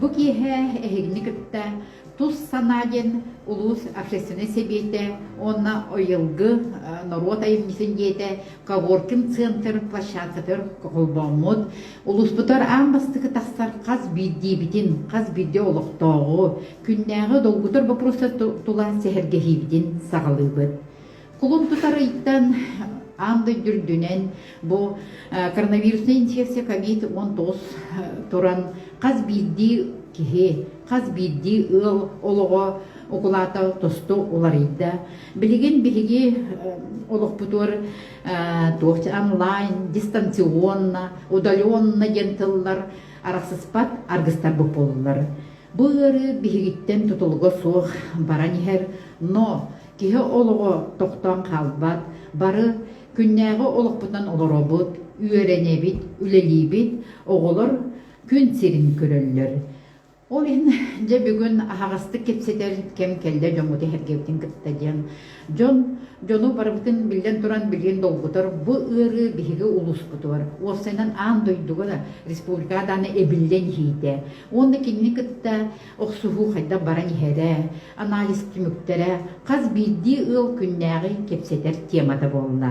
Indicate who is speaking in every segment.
Speaker 1: Бу киэһэ эһигини кытта Тус санаа диэн улуус общественнай сэбиэтэ уонна Ыйылгы норуот айымньытын дьиэтэ Когоркин центр площадкатыгар холбооммут улууспутугар аан бастакы тахсар хас биирдиибитин, хас биирдии олохтооҕу, күннээҕи долгутар боппуруостар тула сэһэргэһиибитин саҕалыыбыт. Кулун тутарыйтан аан дойду үрдүнэн бу коронавирусная инфекция ковид уон тоҕус туран хас биирдии киһи, хас биирдии ыал олоҕо укулаата тосту уларыйда. Билигин биһиги олохпутугар туох онлайн, дистанционно, удаленно диэн тыллар арахсыспат аргыстарбыт буоллулар. Бу ыарыы биһигиттэн тутулуга суох баран иһэр, но Киһи олоҕо тохтоон хаалбат, бары күннээҕи олохпутунан олоробут, үөрэнэбит, үлэлиибит, оҕолор күн сирин көрөллөр. Ол иһин дьэ бүгүн аһаҕастык кэпсэтэр кэм кэллэ дьоҥҥут иһэргэбитин кытта диэн. Дьон дьону барыбытын биллэн туран билиэн долгутар бу ыарыы биһиги улууспутугар уопсайынан аан дойдуга да республикаҕа даҕаны эбиллэн иһиитэ. Уонна кинини кытта Охсуһуу хайдах баран иһэрэ, анализ түмүктэрэ хас биирдии ыал күннээҕи кэпсэтэр темата буолла.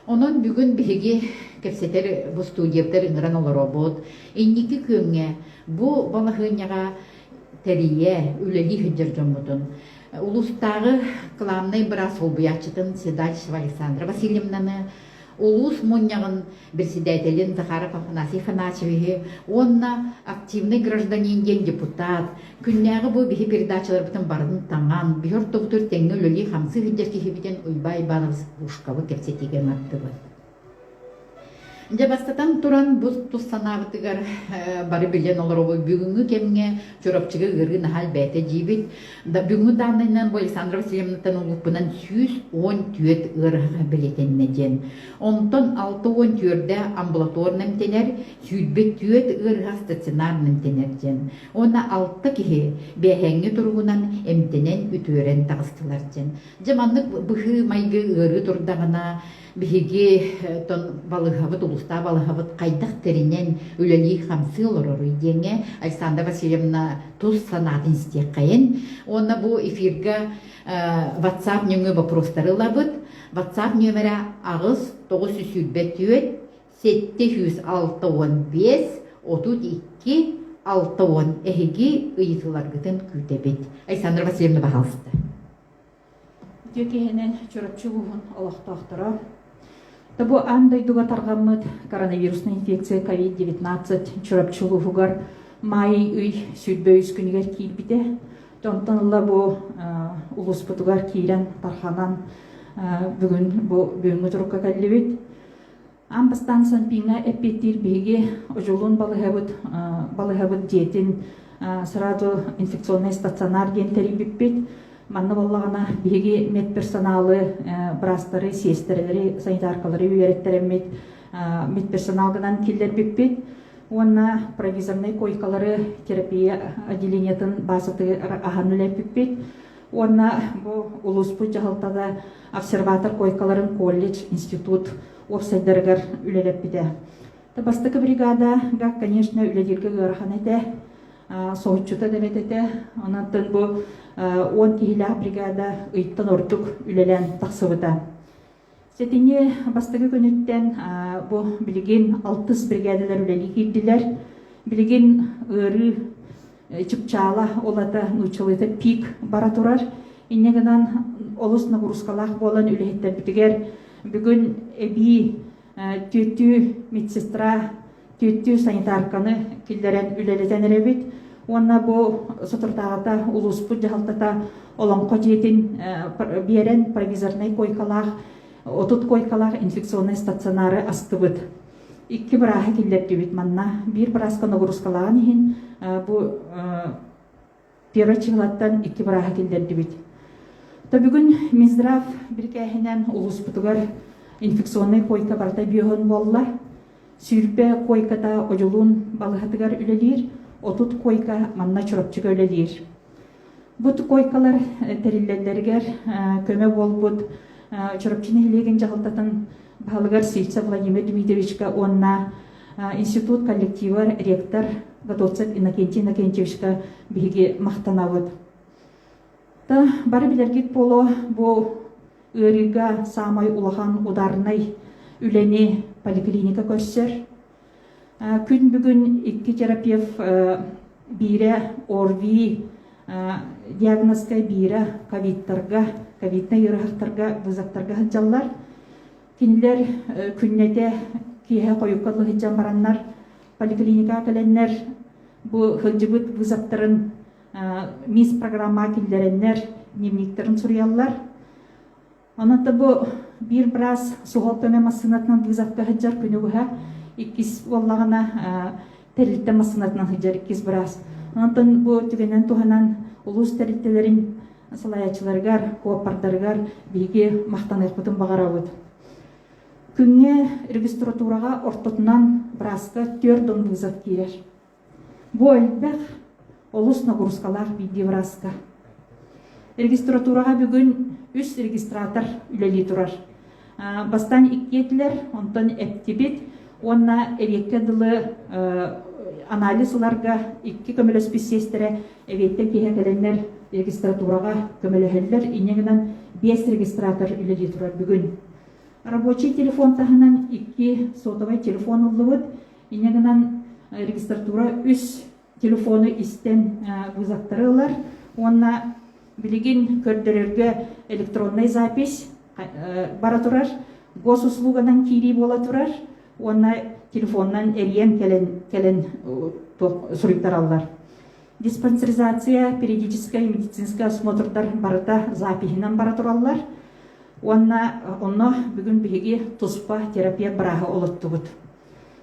Speaker 1: Онон бүгүн биһиги кэпсэтэр бу студиябытар ыҥыран олоробут. Инники күөҥҥэ бу балаһыанньаҕа тэрийэ, үлэлии сылдьар дьоммутун, улуустааҕы кылаабынай быраас солбуйааччытын Седальщева Александра Васильевнаны, улуус мунньаҕын председателин Захаров Афанасий Афанасьевиһы уонна активнай гражданин диэн депутат, күннээҕи бу биһи передачаларбытын барытын таҥан, биһи ортобутугар тэҥҥэ үлэлии-хамсыы сылдьар киһибитин Уйбай Иванов Пушкабы кэпсэтиигэ маттыбыт. Дьэ бастатан туран бу тус санаабытыгар бары билэн олоробут бүгүҥҥү кэмҥэ Чурапчыга ыарыы наһаа элбээтэ диибит. Да бүгүҥҥү дааннайынан бу Александра Васильевнаттан улууппунан сүүс уон түөрт ыарыһаҕа бэлиэтэннэ диэн. Онтон алта уон түөртэ амбулаторна эмтэнэр, сүүрбэ түөрт ыарыһах стационарно эмтэнэр диэн. Уонна алта киһи бээһээҥҥи туругунан эмтэнэн, үтүөрэн таҕыстылар диэн. Дьэ маннык быһыы-майгы ыарыы турдаҕына Биһиги тон балыыһабыт, улуустаах балыһабыт хайдах тэринэн үлэлии-хамсыы олороруй диэҥҥэ Александра Васильевна тус санаатын истиэххэйин. Уонна бу эфирга WhatsApp нөҥүө боппуруостары ылабыт. WhatsApp нөмерэ аҕыс тоҕус сүүс сүүрбэ түөрт сэттэ сүүс алта уон биэс отут икки алта уон эһиги ыйытыларгытын күүтэбит. Александра Васильевна, пожалуйста. Дьэ киһинэн
Speaker 2: Чурапчы улууһун олохтоохторо да бу аан дойдуга тарҕаммыт коронавирусная инфекция COVID-19 Чурапчы улууһугар маай ый сүүрбэ үс күнүгэр киирбитэ. Онтон ыла бу улууспутугар киирэн тарханан бүгүн бу бүгүҥҥү турукка кэллибит. Аан бастаан Санпиҥҥа эппиэттиир биһиги Одьулуун балыһабыт, балыһабыт дьиэтин сразу инфекционный стационар диэн тэрийбиппит. Манна баллаҕана биһиги медперсоналы, быраастары, сиэстэрэлэри, санитаркалары үөрэттэрэммит, медперсонал гынан киллэрбиппит уонна провизорнай койкалары терапия отделениетын баазатыгар аһан үлэппиппит. Уонна бу улууспут дьаһалтата обсерватор койкаларын колледж, институт уопсайдарыгар үлэлэппитэ. Бастакы бригада, конечно, үлэлииргэ ыарахан этэ. Соһуччута да эбит этэ. Онон бу он киһилээх бригада ыйтан ордук үлэлээн тахсыбыта. Сэтини бастакы күнүттэн бу билигин алтыс биригээдэлэр үлэлии киирдилэр. Билигин ыарыы чыпчаала улата нууччалыыта пик бара турар. Инньэ гынан олус нагрузкалаах буолан үлэһиттэрбитигэр бүгүн эбии түөртүү медсестра түүттүү санитарканы киллэрэн үлэлэтэн эрэбит уонна бу соторутааҕыта улууспут дьаһалтата олоҥхо дьиэтин биэрэн провизорнай койкалаах отут койкалаах инфекционнай стационары астыбыт икки бырааһы киллэрдибит манна биир бырааска ногрузкалаан иһин бу Первый чыҥлаттан икки барааһы киллэрдибит. То бүгүн Минздрав бирикээһинэн улууспутугар инфекционнай койка барыта бүйөһөн буолла. Сүүрбэ койката Ожулун балыһатыгар үлэлиир, отут койка манна Чурапчыга үлэлиир. Бут койкалар тэриллэллэригэр көмө буолбут Чурапчы нэһилиэгин дьаһалтатын баһылыгар Сильца Владимир Дмитриевичка уонна Институт коллектива, ректор Готовцев Иннокентий Иннокентьевичка биһиги махтанабыт. Та бары билэргит боло бу ыарыыга самай улахан ударнай үлэни поликлиника көрсөр. Күн бүгүн икки терапевт биире ОРВИ диагнозка биире ковидтарга, ковидный ыарахаттарга, вызаттарга сылдьаллар. Кинилэр күннэтэ киэһэ хойукка сылдьан бараннар поликлиникаҕа кэлэннэр бу сылдьыбыт вызовтарын мисс программаҕа киллэрэннэр дневниктарын суруйаллар. Онон да бу биир быраас суһал көмө массыынатынан вызовка сылдьар күнү быһа иккис буоллаҕына тэрилтэ массыынатынан сылдьар иккис быраас. Онтон бу түгэнэн туһанан улуус тэрилтэлэрин салайааччыларыгар, куоппардарыгар биһиги махтаныахпытын баҕарабыт. Күҥҥэ регистратураҕа ортотунан бырааска түөрт дон вызов киирэр. Бу элбэх олус ногурускалаах биирдии бырааска. Регистратураҕа бүгүн үс регистратор үлэлии турар. Бастаан иккиэтилэр, онтон эптибит уонна эриэккэ дылы анализ ыларга икки көмөлөспүт сиэстэрэ эриэктэн киһи кэлэннэр регистратураҕа көмөлөһөллөр. Инньэ гынан биэс регистратор үлэлии турар бүгүн. Рабочий телефон таһынан икки сотовай телефон ыллыбыт. Инньэ гынан регистратура үс телефону истэн вызовтары ылар уонна билигин көрдөрөргө электроннай запись бара турар госуслуганан киирии буола турар уонна телефоннан эрийэн кэлэн кэлэн суруйтараллар диспансеризация периодическай медицинскай осмотрдар барыта запиһинэн бара тураллар уонна онно бүгүн биһиги туспа терапия бырааһы олоттубут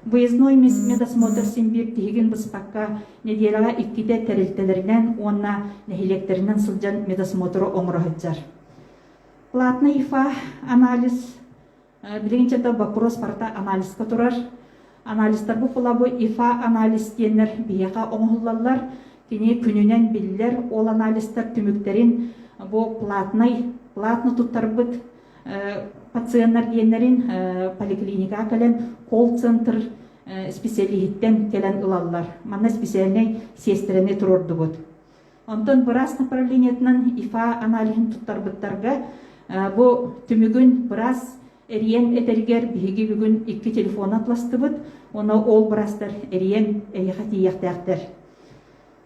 Speaker 2: Выездной медосмотр симбир тиһигин быспакка неделяға иккитэ тэрилтэлэринэн уонна нэһилиэктэринэн сылдьан медосмотру оҥороһыджар. Платный ИФА анализ билигинчетэ вопрос парта анализка турар. Анализтар бу пулабу ИФА анализ диэннэр биһиэхэ оҥоһуллаллар. Кини күнүнэн биллэр ол анализтар түмүктэрин бу платный платно туттарбыт пациеннар диэннэрин поликлиникаҕа кэлэн колл-центр исписэлииһиттэн кэлэн ылаллар. Манна специальнай сиэстэрэни туруордубут. Онтон быраас направлениетынан ИФА аналиһын туттарбыттарга бу түмүгүн быраас эрийэн этэригэр биһиги бүгүн икки телефон атластыбыт уонна ол быраастар эрийэн эйиэхэ тиийиэхтээхтэр.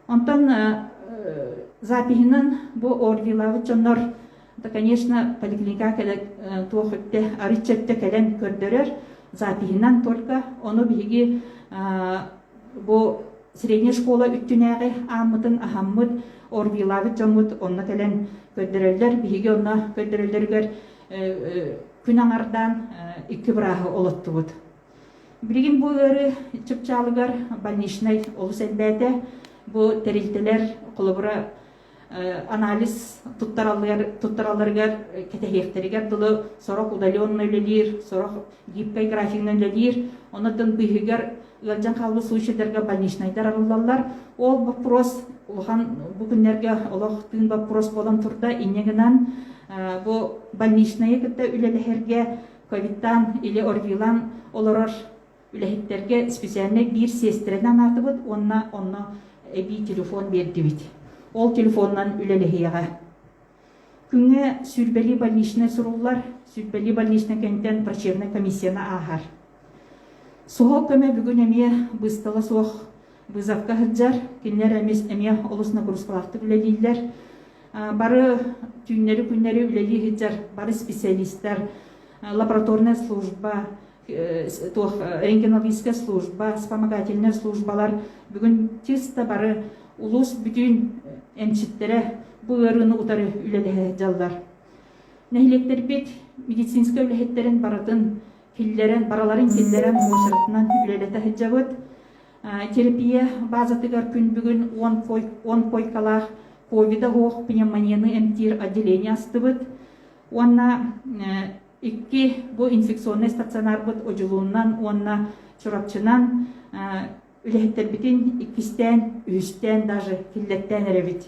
Speaker 2: Онтон запиһынан бу Орвилаабыт дьоннор да, конечно, поликлиника кэлэ туох өттө арычча өттө кэлэн көрдөрөр запиһынан только ону биһиги бу средняя школа үттүнээҕи ааммытын аһаммыт орвилаабыт дьоммут онно кэлэн көрдөрөллөр биһиги онно көрдөрөллөрүгэр күн аҥардаан икки бырааһы олоттубут Билигин бу ыары чыпчаалыгар больничнай олус элбээтэ. Бу тэрилтэлэр холобура анализ туттаралларыгар кэтэһиэхтэригэр дылы сорох удаленно үлэлиир, сорох гибкай графигынан үлэлиир. Онон быыһыгар ыалдьан хаалбыт случайдарга больничнайдар арыллаллар. Ол боппуруос улахан бу күннэргэ олох тыын боппуруос буолан турда. Инньэ гынан бу больничнайы кытта үлэлэһэргэ Ковидтаан или орвилаан олорор үлэһиттэргэ специальнай биир сиэстэрэнэ анаатыбыт уонна онно эбии телефон биэрдибит. Ол телефонунан үлэлэһиэҕэ. Күҥҥэ сүүрбэлии больничнай суруллар, сүүрбэлии больничнай кэнтэн врачебнай комиссияны ааһар. Суһал көмө бүгүн эмиэ быыстала суох Быызапка сылдьар, кинилэр эмис эмиэ олус нагрузкалаахтык үлэлииллэр. Бары түүннэри-күннэри үлэлии сылдьар бары специалистар, лабораторная служба, туох рентгенологическая служба, вспомогательная службалар бүгүн чисто бары улуус бүтүн эмчиттэрэ бу ыарыыны утары үлэлэһэ дьаллар. Нэһилиэктэрбит медицинскэй үлэһиттэрин барытын киллэрэн, бараларын киллэрэн муочаратынан үлэлэтэ сылдьабыт. Терапия базатыгар күн бүгүн уон койкалаах ковида оһох пневмонияны эмтиир отделение астыбыт уонна икки бу инфекционнай стационарбыт одьулууннан уонна Чурапчынан үлэһиттэрбитин иккистээн, үһүстээн даже киллэттээн эрэбит.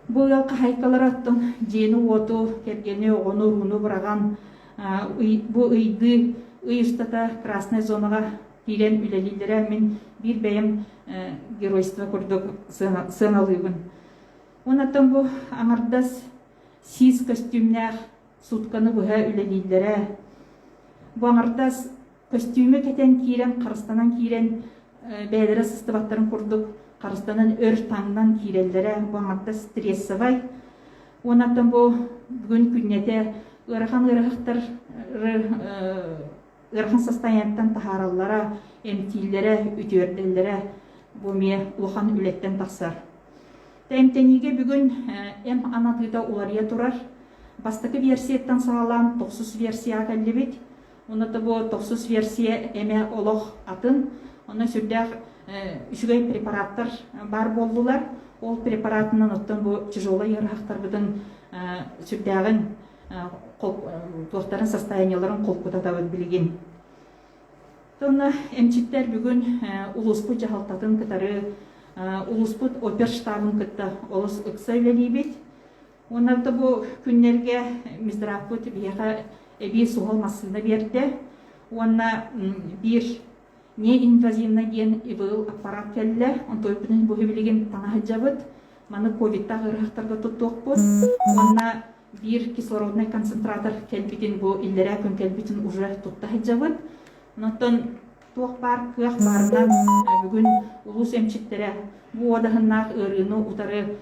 Speaker 2: Бу ыал хаһайкалара оттон дьиэни-уоту, кэргэни, оҕону, урууну быраҕан бу ыйдыы ый устата красная зонаҕа киирэн үлэлииллэрэ. Мин биир бэйэм геройство курдук сыаналыыбын. Онон бу аҥардас сиис көстүүмнээх суутканы быһа үлэлииллэрэ. Бу аҥардас көстүүмү кэтэн киирэн, харыстанан киирэн, бэйэлэрэ сыстыбаттарын курдук харыстанан өр таҥнан киирэллэрэ. Бу аҥардас стрессовай. Онон бу бүгүн күннэтэ ыарахан ыарахаттары ыарахан состоянияттан таһаараллара, эмтииллэрэ, үтүөрдэллэрэ бу эмиэ улахан үлэттэн тахсар. Эмтэниигэ бүгүн эм анатыыта уларыйа турар. Бастакы версияттан саҕалаан тохсус версияҕа кэллибит. Онно бу тохсус версия эмэ олох атын. Онно сүрдээх үчүгэй препараттар баар буоллулар. Ол препаратынан оттон бу тяжелый ыарахаттарбытын сүрдээҕин туортарын состояниеларын холкутатабыт билигин. Тонна эмчиттэр бүгүн улууспут дьаһалтатын кытары улууспут оперштабын кытта олус ыкса үлэлиибит. Оннан бу күннэргэ Миздраппыт биһиэхэ эбии суһал массыына берде. Уонна биир не инвазивна диэн ИВЛ аппарат кэллэ. Онтойбутун бу билигин танаһыдьабыт. Маны ковидтағы ырғақтарға тұттуақпыз. Онна Биир кислороднай концентратор кэлбитин бу иллэрээ күн кэлбитин уже тутта сылдьабыт. Оттон туох баар кыах баарынан бүгүн улуус эмчиттэрэ бу уодаһыннаах ыарыыны утары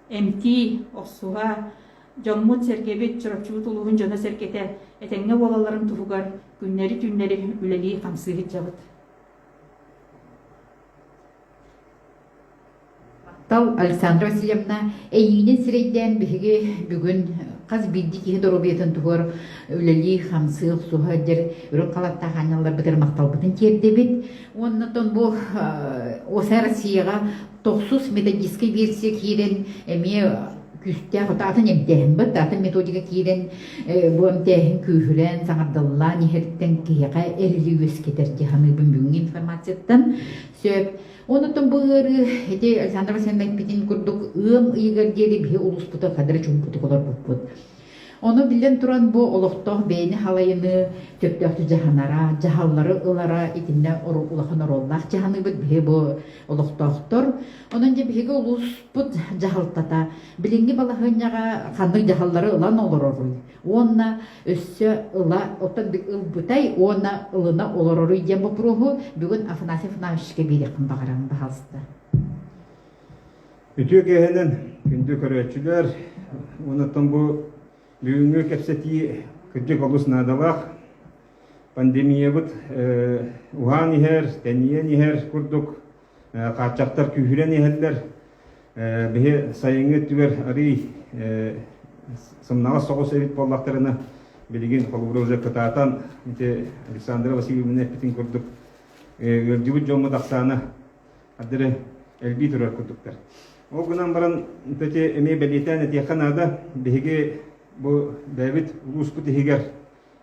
Speaker 2: эмтии, охсуһа, дьоммут-сэргэбит, Чурапчыбыт улууһун дьоно-сэргэтэ этэҥҥэ буолалларын туһугар күннэри-түүннэри үлэлии-хамсыы сылдьабыт.
Speaker 1: Таптал Александра Васильевна эйиинин сирэйдээн биһиги бүгүн хас биирдии киһи доруобуйатын туһугар үлэлии-хамсыы охсуһа сылдьар үрүҥ халаттаах аанньалларбытыгар махталбытын тиэрдэбит уонна оттон бу ОСА Россияҕа тохсус методическай версия киирэн эмиэ күүстээх атын эмтээһимбит атын методика киирэн бу эмтээһин күүһүрэн саҥардыллаан иһэриттэн киһиэхэ эрили үөскэтэр дьаһаныыбын бүгүҥҥү информацияттан сөп Онутун бу ыарыы ити Александр Васильевна эппитин курдук ыам ыйыгар диэри биһи улууспуту кадары чуумпутук олорбуппут. Ону биллэн туран бу олохтоох бэйэни халайыныы, төптөөхтү дьаһанара, дьаһаллары ылара итиннэ улахан оруоллаах дьаһаныыбыт биһи бу олохтоохтор. Онон дьэ биһиги улууспут дьаһалтата билиҥҥи балаһыанньаҕа ханнык дьаһаллары ылан олороруй? уонна өссө ыла оттон ылбытай уонна ылына олороруй диэн боппуруоһу бүгүн Афанасий Афанасьевичке биэриэхпин баҕаран баҕалста.
Speaker 3: Үтүө киэһэнэн күндү көрөөччүлэр уонаттан бу бүгүҥҥү кэпсэтии кырдьык олус наадалаах пандемиябыт уһаан иһэр, тэнийэн иһэр курдук хааччахтар күүһүрэн иһэллэр. Биһи сайыҥҥы өттүгэр арыый сымнаҕас соҕус эбит буоллахтарына, билигин холобура уже кытаатан ити Александра Васильевна эппитин курдук, ыалдьыбыт дьоммут ахсаана аддары элбии турар курдуктар. Ол гынан баран эти эмиэ бэлиэтээн этиэххэ наада, биһиги бу бэйэбит улууспут иһигэр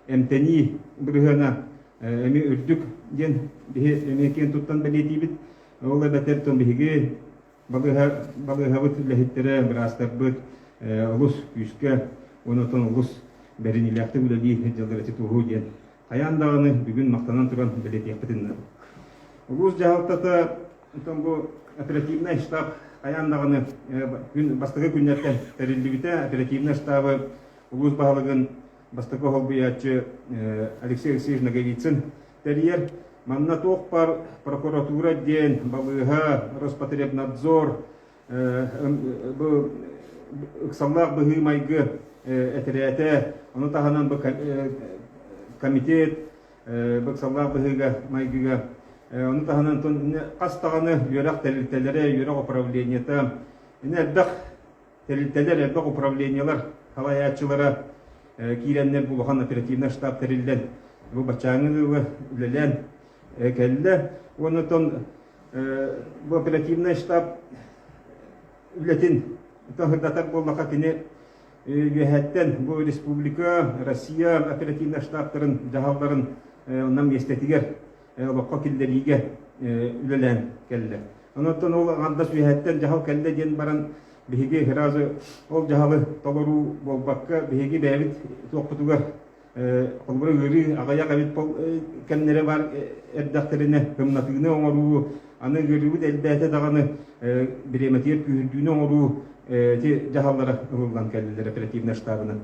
Speaker 3: эмтэнии бырыһыана эми үрдүк диэн биһи эмиэ киэн туттан бэлиэтиибит. Ол эбэтэр тон биһиги балыыһа, балыыһабыт үлэһиттэрэ, быраастарбыт олус күүскэ уонна отон олус бэриниилээхтик үлэлии дьаллар эти туоһуу диэн хайаан даҕаны бүгүн махтанан туран бэлиэтиэхпитин Улуус дьаһалтата отон бу оперативнай штаб хайаан даҕаны э, күн бастакы күннэртэн тэриллибитэ оперативнай штабы улуус баһылыгын бастакы холбуйааччы Алексей Алексеевич Ноговицын тэрийэр. Манна туохпар прокуратура диэн балыыһа, Роспотребнадзор, бу ыксаллаах быһыы-майгы этирээтэ, ону таһынан бу комитет ыксаллаах быһыыга-майгыга, ону таһынан хас даҕаны үөрэх тэрилтэлэрэ, үөрэх управлениета, ини элбэх тэрилтэлэр, элбэх управлениелар салайааччылара киирэннэр бу улахан оперативнай штаб тэриллэн бу баччааҥы ыалы үлэлээн кэллэ уонна оттон бу оперативнай штаб үлэтин сырдатар буоллахха кини үөһэттэн бу республика Россия оперативнай штабтарын дьаһалларын онно миэстэтигэр олоххо киллэриигэ үлэлээн кэллэ. Онуттан ол аҥардас үөһэттэн дьаһал кэллэ диэн баран биһиги сразу ол дьаһалы толоруу буолбакка биһиги бэйэбит туохпутугар холобура ыарыы аҕыйах эбит кэмнэрэ баар эрдэхтэринэ тымнатыыны оҥоруу аны ыарыыбыт элбээтэ даҕаны бириэмэтигэр күүһүрдүүнү оҥоруу эти дьаһаллара ылыллан кэллилэр оперативнай штабынан.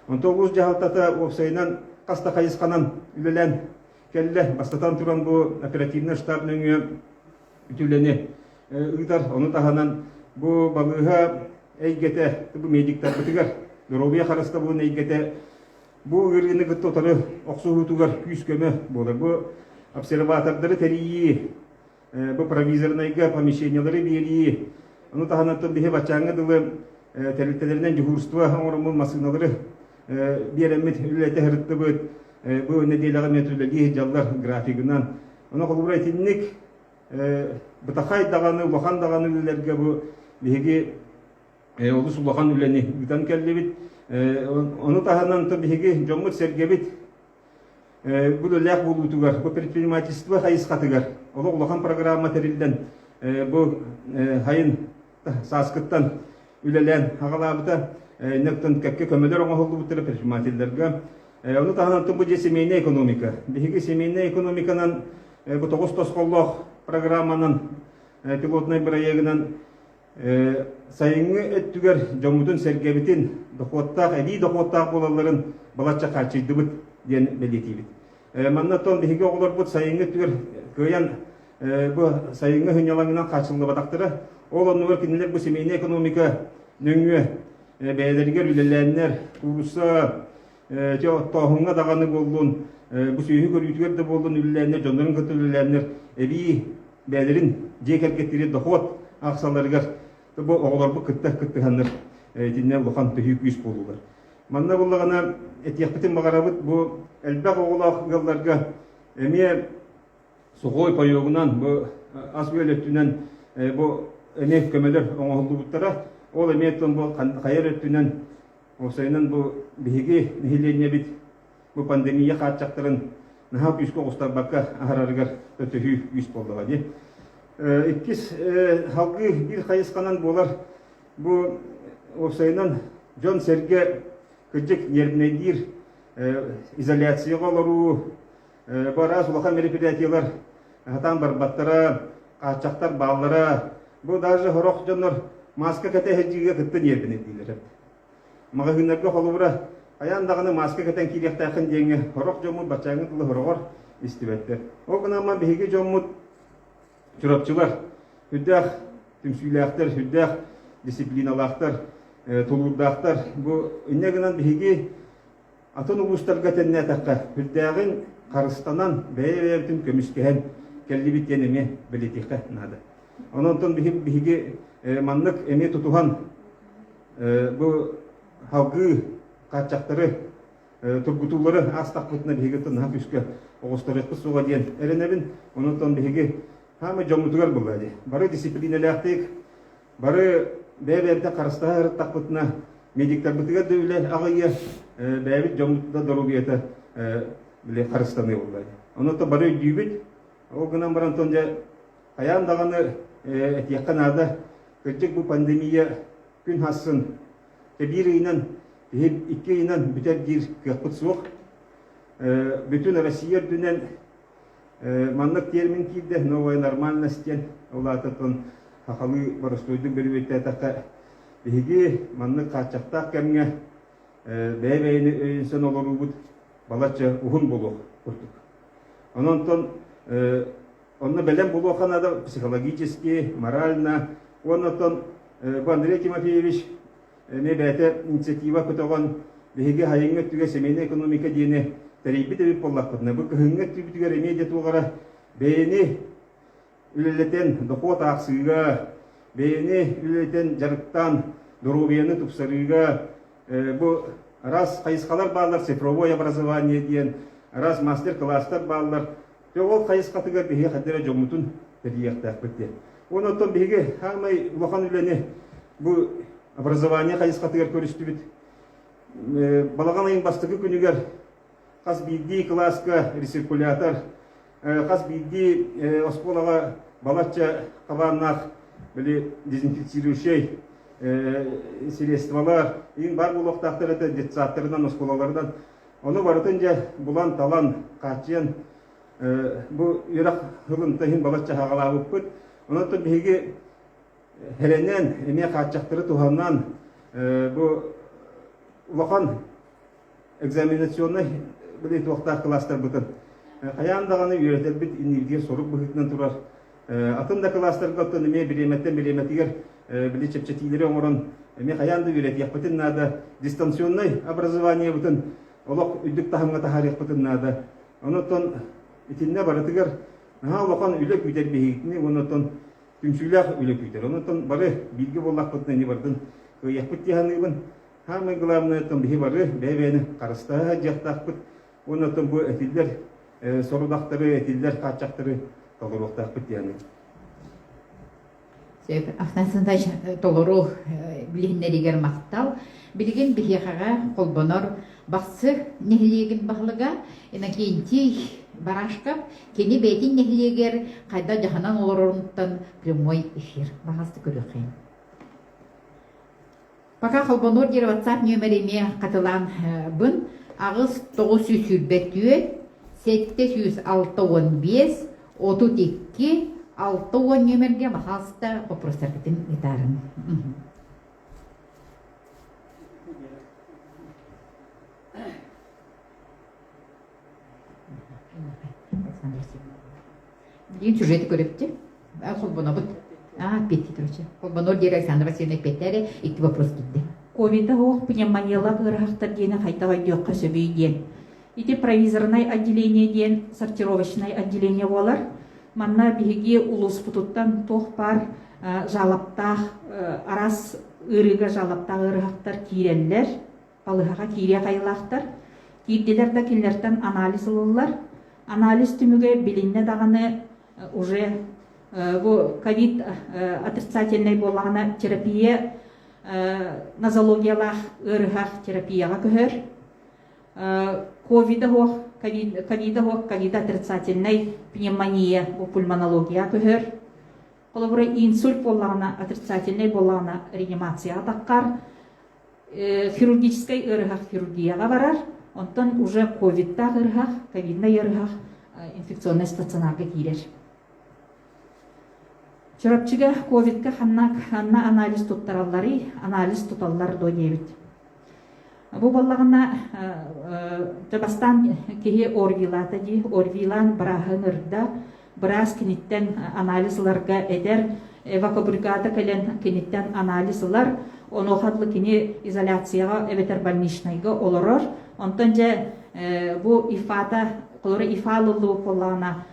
Speaker 3: Онтон улуус дьаһалтата уопсайынан хас да хайысханан үлэлээн Кэллэ, бастатан туран бу оперативнай штаб нөҥүө үлэни ыытар. Ону таһынан бу балыыһа эйгэтэ бу медиктарбытыгар, доруобуйа харыстабылын эйгэтэ бу ыарыыны кытта утары охсуһуутугар күүс-көмө буолар. Бу обсерватордары тэрийии бу провизорнайга помещениелары биэрии, ону таһынан биһи баччааҥҥа дылы тэрилтэлэринэн дьуһуурстуба оҥоруммут массыыналары биэрэммит үлэлэтэ сырыттыбыт. Бу нэдиэлэҕэ метрөлөлии дьаллар графигынан. Ону холобура итинник бытахай даҕаны, улахан даҕаны үлэлэргэ бу биһиги олус улахан үлэни ыытан кэллибит. Ону таһынан биһиги дьоммут-сэргэбит Бу үлэлээх буолуутугар, бу предпринимательство хайысхатыгар олох улахан программа тэриллэн, бу сайын сааскыттан үлэлээн аҕалаабыта ньыктын кэккэ көмөлөр оҥоһуллубуттара предпринимателлэргэ. Ону таһынан бу дьиэ семейная экономика. Биһиги семейная экономиканан бу тоҕус тосхоллоох программанан, пилотнай бырайыагынан Сайыҥҥы өттүгэр дьоммутун-сэргэбитин, дохуоттаах, эбии дохуоттаах буолалларын балачча хааччыйдыбыт диэн бэлиэтиибит. Манна оттон биһиги оҕолорбут сайыҥҥы өттүгэр кыайан бу сайыҥҥы сынньалаҥынан хааччыллыбатахтара. Ол оннугар кинилэр бу семейная экономика нөҥүө бэйэлэригэр үлэлээннэр, куурусса, оттооһуҥҥа даҕаны буоллун, бу сүөһү көрүүтүгэр да буоллун үлэлээннэр, дьоннорун кытта үлэлээннэр эбии бэйэлэрин дьиэ кэргэттири дохуот ахсалларыгар бу оҕолорбут кытта кыттыһаннар итиннэ улахан төһүү күүс буолуулар. Манна буллаҕына этиэхпитин баҕарабыт бу элбэх оҕолоох ыалларга эмиэ сухой пойогунан бу ас-үөл өттүнэн бу эмиэ көмөлөр оҥоһуллубуттара ол эмиэ тон бу хайар өттүнэн уопсайынан бу биһиги нэһилиэнньэбит Бу пандемия хааччахтарын наһаа күүскэ оҕустарбакка аһарарыгар өтөһүү күүс буоллаҕа дии. Иккис салгыы биир хайысханан буолар бу уопсайынан дьон-сэргэ кырдьык нервнэйдиир изоляцияҕа олоруу, бу араас улахан мероприятиелар сатаан барбаттара, хааччахтар бааллара, бу даже сорох дьоннор маска кэтэһэрдиигэ кытта нервнэйдиилэрэ. Маҕаһыыннарга холобура, хайаан даҕаны мааска кэтэн киириэхтээххин диэҥҥэ сорох дьоммут баччааҥҥы тылы сороҕор истибэттэр. Ол гынан биһиги дьоммут чурапчылар үрдээх түмсүүлээхтэр, үрдээх дисциплиналаахтар, тулуурдаахтар. Бу инньэ гынан биһиги атын улуустарга тэннээтэххэ, үрдээҕин харыстанан, бэйэ-бэйэбитин көмүскэһэн кэллибит диэн эмиэ бэлиэтиэххэ наада. Онон онтон биһиги маннык эмиэ тутуһан Бу халгыы хааччахтары, тургутуулары аастахпытына биһиги тынаһа күүскэ оҕосторуохпут суоҕа диэн эрэнэбин. Онон биһиги хаамай дьоммутугар былыа дии. Бары дисциплиинэлээхтик, бары бэйэ-бэйэбитин харыстаһа ырыттахпытына, медиктарбытыгар да үлэ аҕыйыа, бэйэбит дьоммут да доруобуйата харыстаныа буолла. Онон бары өйдүүбүт. Ол гынан баран дьэ Хайаан даҕаны этиэххэ наада, кырдьык бу пандемия күн хассын биир ыйынан, киһи икки ыйынан бүтэр диир кыахпыт суох. Бүтүн Россия үрдүнэн маннык термин киирдэ «новая нормальность» диэн, ол аатыттан сахалыы боростуойдук бөрүбүттээтэххэ, биһиги маннык хааччахтаах кэмҥэ бэйэ-бэйэни өйөнсөн олоруубут балачча уһун буолуох курдук. Онон Онно бэлэм буолуохха наада психологически, морально. Уонна оттон бу Андрей Тимофеевич эмиэ бэйэтэ инициатива көтөҕөн, биһиги айыҥҥа өттүгэр семейная экономика диэни тэрийбит эбит буоллахпытына, бу кыһыҥҥы өттүбүтүгэр эмиэ дьэ туоҕара бэйэни үлэлэтэн дохуот аахсыыга, бэйэни үлэлэтэн дьарыктаан доруобуйаны тупсарыыга бу раз хайысхалар бааллар цифровое образование диэн, раз мастер-класстар бааллар Дьэ, ол хайысхатыгар биһиги хайдах эрэ дьоҥмутун тэрийиэхтээхпит диэн. Уонна оттон биһиги саамай улахан үлэни бу образование хайысхатыгар көрүстүбүт. Балаҕан айын бастакы күнүгэр хас биирдии кылааска рециркулятор, хас биирдии оскуолаҕа балачча хабааннаах били дезинфицирующай средстволар, иин баар буолуохтаахтар этэ детсадтарынан, оскуолаларынан Ону барытын дьэ булан-талан, хааччыйан бу үөрэх сылын иһин балачча аҕалаабыппыт. Онон биһиги эрэнэн, эмиэ хааччахтары туһанан бу улахан экзаменационнай билии туохтаах кылаастарбытын хайаан даҕаны үөрэтэрбит энергия сорук быһыытынан турар Атын да кылаастарга оттон эмиэ бириэмэттэн бириэмэтигэр били чэпчэтиилэри оҥорон эмиэ хайаан да үөрэтиэхпитин наада, дистанционнай образованиебытын олох үрдүк таһымҥа таһаарыахпытын наада. Онон итиннэ барытыгар наһаа улахан үлэ күүтэр биһигитини уонна оттон түмсүүлээх үлэ күүтэр. Онон бары бииргэ буоллахпытына ини бардын кыайыахпыт дии саныыбын. Самое главное, оттон биһи бары бэйэ-бэйэни харыстаһа сылдьыахтаахпыт. уонна оттон бу этиллэр сорудахтары, этиллэр хааччахтары толоруохтаахпыт диэни.
Speaker 1: Афнасындаш толору билиннэригер мактал. Билигин биһиэхэҕэ холбонор бахсы нэһилиэгин баһылыга Иннокентий Барашков кини бэйтин нэһилиэгер қайда жаханан олорорунуттан прямой эфир. Бахасты көрүөхейн. Пока холбонуор диэри WhatsApp нүөмэр эмиэ хатылаанбын аҕыс тоҕус сүүс сүүрбэ түөрт сэттэ сүүс алта уон биэс отут икки алта уон нүөмэргэ пожалуйста попросаргытын ыытаарым И чужие коллектив холбонобут Петri Trocha. Холбонор диэри Александра Васильевна Петре икки вопрос киtte. Ковита хуох
Speaker 2: пневмонияла ыраахтар диэни хайдах айдыахха сөбүй диэн. Ити провизорнай отделение диэн сортировочнай отделение болар. Манна биһиги улууспутуттан туох пар жалаптаах арас ырыга жалаптаах ыраахтар киирэллэр. Балыһаҕа киириэх айылаахтар, киирдилэр да кинилэртэн анализ ылыллар. Анализ түмүгэ билиннэ даҕаны уже бу ковид отрицательнай буоллаҕына терапия нозологиялаах ыарыһах терапияҕа көһөр. Ковида оһох, ковида оһох, ковида отрицательнай пневмония бу пульмонологияҕа көһөр. Холобура инсульт буоллаҕына, отрицательнай буоллаҕына реанимацияҕа таххар. хирургическай ыарыһах хирургияҕа барар, онтон уже ковидтаах ыарыһах, ковиднай ыарыһах инфекционнай стационарга киирэр. Чурапчыга ковидка ханна, ханна анализ туттаралларый, анализ туталлар до диэбит. Бу баллаҕына бастаан киһи орвилата дии, орвилан бырааһын ырда, Быраас киниттэн анализ ыларга этэр, эвакобригада кэлэн киниттэн анализ ылар, онуоха дылы кини изоляцияҕа эбэтэр больничнайга олорор. Онтон дьэ бу ифата, хлороифалыллуу буоллаҕына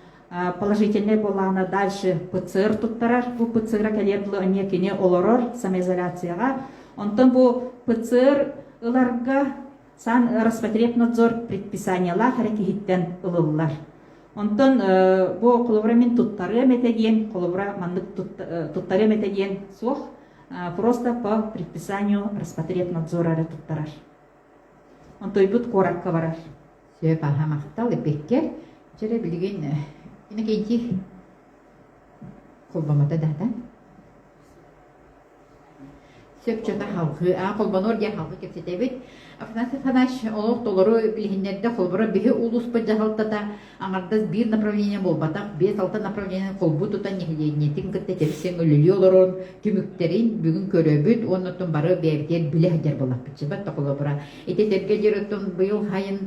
Speaker 2: положительнай буоллаҕына дальше ПЦР туттарар. Бу ПЦР кэлиэр дылы эмиэ кини олорор самоизоляцияҕа. Онтон бу ПЦР ыларга сан-Роспотребнадзор предписаниелаах эрэ киһиттэн ылыллар. Онтон бу холобура мин туттарыам этэ диэн, холобура маннык туттарыам этэ диэн суох. Просто по предписанию Роспотребнадзора эрэ туттарар. Онтойбут куоракка барар. Сөп аха
Speaker 1: махтал эппекке. Чэрэ билигин инекейди холбомата дата. сөпсөтө халҕыы аа холбонуор диэн халҕыы кэпсэтэбит афанасий афанасьевич олох толору билиһиннэрдэ холборо биһи улууспут дьаһалтата аҥардас биир направление буолбатах биэс алта направлениены холбуу тутан нэһилиэнньэтин кытта тэпсиэн үлэлии олорон түмүктэрин бүгүн көрөбүт уонна оттон бары бэйэбитигэр билэ сылдьар буоллахпыт сипат холобура ити сэргэ диир оттон быйыл сайын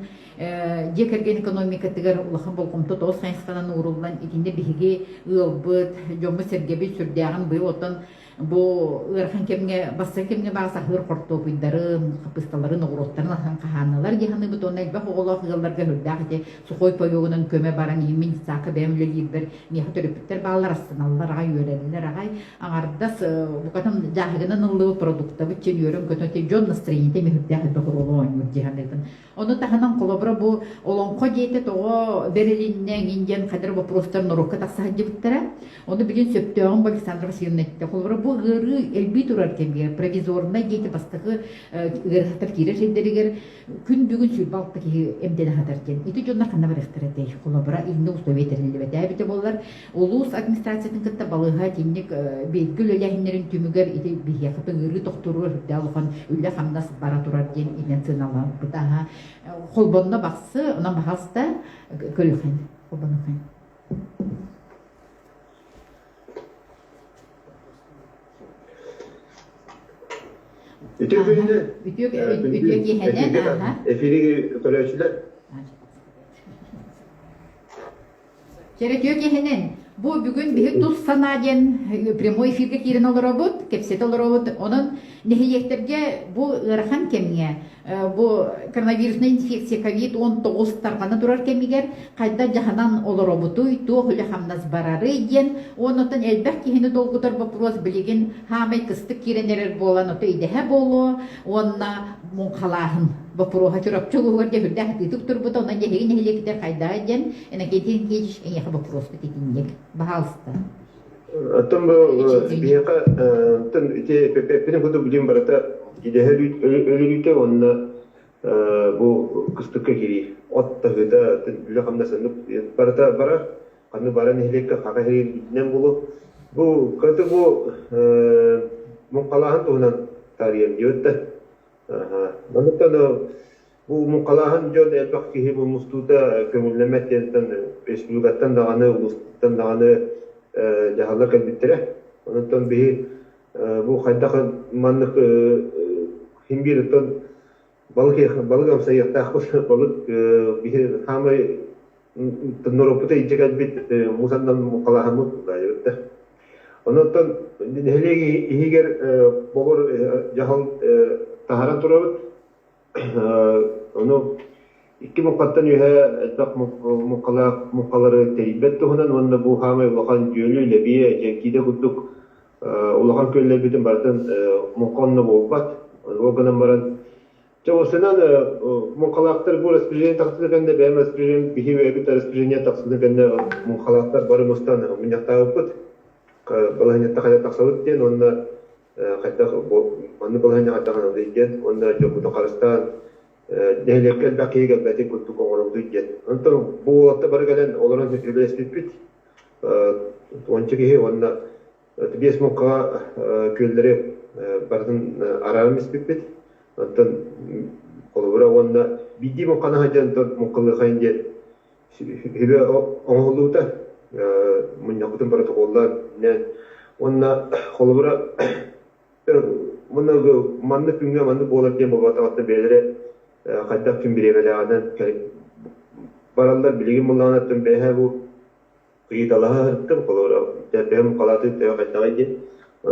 Speaker 1: дьиэ кэргэн экономикатыгар улахан болҕомто тоҕус хайысханан ууруллан итиннэ биһиги ыалбыт дьоммут-сэргэбит сүрдээҕин быйыл оттон бу ыарахан кэмҥэ бастакы кэмҥэ баар саһыыр хортуопуйдарын хаппысталарын оҕуруоттарын атын хаһааналар дии саныыбыт уонна элбэх оҕолоох ыалларга өрдөөх ити сухой тоёгунан көмө баран иимин саакка бэйэм үлэлиирбэр миэхэ төрөппүттэр бааллар астаналлар аҕай үөрэллэр аҕай аҥардас букатын дьааһыгынан ыллыбыт продуктабыт чин үөрөн көтө дьон настроениета миһүрдээх элбэх оруолу оонньуур дии саныыбын Ону таһынан, холобура, бу Олоҥхо диэтэ тоҕо бэрилиннэ эҥин диэн хайдары боппуруостар норуокка тахса сылдьыбыттара. Ону билин сөптөөҕүн бу Александра Васильевна эттэ. Холобура, бу ыарыы элбии турар кэмигэр провизорнай диэки бастакы ыарыһахтар киирэр сирдэригэр күн бүгүн сүүрбэ алта киһи эмтэнэ сатар диэн. Ити дьоннор ханна барыахтара этэй? Холобура, инна условия тэриллибэтэ эбитэ боллар. Улуус администрациятын кытта балыыһа итинник бииргэ үлэлээһиннэрин түмүгэр ити биһиэхэ тыҥырыы тохторуур сүрдээх улахан үлэ-хамнас бара турар диэн интенционаларбыта холбонно бахсы онон баҕаста көлүхэн холбонухэн үтүө киэһэнэ эфири көрөөчүлэр Чэ, үтүө киһинин, бу бүгүн биһи тус санаа диэн прямой эфиргэ киирэн олоробут, кэпсэтэ олоробут. Онон нэһилиэктэргэ бу ыарахан кэмҥэ, бу коронавирусная инфекция COVID-19 тарҕана турар кэмигэр хайдах дьаһанан олоробутуй, туох үлэ-хамнас барарый диэн, оннуттан элбэх киһини долгутар боппуруос билигин хаамай кыстык киирэн эрэр буолан, ото идэһэ буолуо, уонна муҥхалааһын боппуруоһа Чурапчы улууһугар дьэһүрдээх тыытык турбута онон дьэһиги нэһилиэкитэр хайдаҕа диэн Иннокентий Никитич эйиэхэ боппуруоспут итинник баһаалыста
Speaker 4: Оттон бу биһиэхэ оттон ити эппин куту билим барыта идэһэ өлүрүүтэ уонна бу кыстыкка кириир от таһыыта үлэ хамнасыннык барыта барар Ханны баран нэһилиэккэ хака иһирийбитинэн булу бу кыты бу муҥхалааһын туһунан таарыйан диэбит да манныктан бу муҥхалааһын дьон элбэх киһи бу мустуута көҥүллэммэт диэнтэн республикаттан даҕаны улустан даҕаны дьаһалла кэлбиттэрэ онтон биһи бу хайдах маннык химбириттан балык амсайыахтаах балык биһи саамай норуоппута илдьэ кэлбит мусандан мухалаһаммыт баайыбыт да онуттан нэһилиэк иһигэр бобор дьаһал таһаран турабыт ону Икки муҥхаттан үөһэ элбэх муҥхалаах муҥхалары тэрийбэт туһунан уонна бу саамай улахан дьүөлү, лэбиэ, дьэҥкиитэ курдук улахан күөллэрбитин барытын муҥха онно буолбат. Ол гынан баран Дьэ, осынан муҥхалаахтар бу распоряжение тахсыны кэннэ бэйэм распоряжением биһи бэйэбит распоряжение тахсыны кэннэ муҥхалаахтар бары мустан мунньахтаабыппыт. Балаһыанньата хайа тахсабыт диэн уонна хайдах маннык балаһыанньа хайдах диэн уонна дьоккута харыстаан нэһилиэктэн да киһи кэлбэтин курдук оҥоробутун диэн. Онтон бу уолаттар бары кэлэн олорон үлэлэспиппит. Уонча киһи уонна биэс муҥхаҕа күөллэри барытын арааран испиппит. Онтон холобура уонна биирдии муҥханы сылдьан муҥхалыахайын диэн сүбэ оҥоһуллубута. Мунньахпытын протоколлаан уонна холобура Мыныгы, маннык күҥҥэ маннык буолар диэн боботоҕоттон бэйэлэрэ хайдах ким бириэмэлээҕинэн бараллар. Билигин мыллаҕынаттан бэйэһээ бу кыйыталаһа сырыттым, холоро бэйэм муккалаатын төһө хайдаҕай диэн.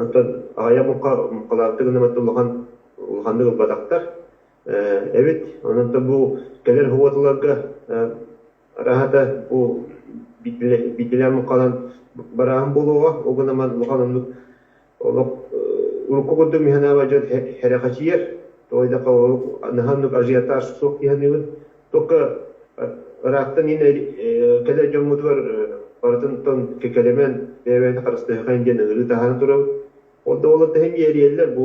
Speaker 4: Онтон аҕыйах муккалаабыты гынамат улахан улаханнык ылбатахтар. Эбит, онон бу кэлэр хоботолорго Ыраһата бу битилэн халан барааһын буолуоҕа, ол гынан улахан оннук олох урукку курдук миһинэбэ дьон херэхэчийэр, тоҕо диэтэххэ наһаа оннук ажиотаж суох киһиниыбын. Только ыраахтан ин кэлэр дьоммутугар барытынтан кэкэлэмэн бэйэбитин харыстыаххын диэн ыҥырыы таһааран турабыт. Ол да буоллар тэһин иэрийэллэр бу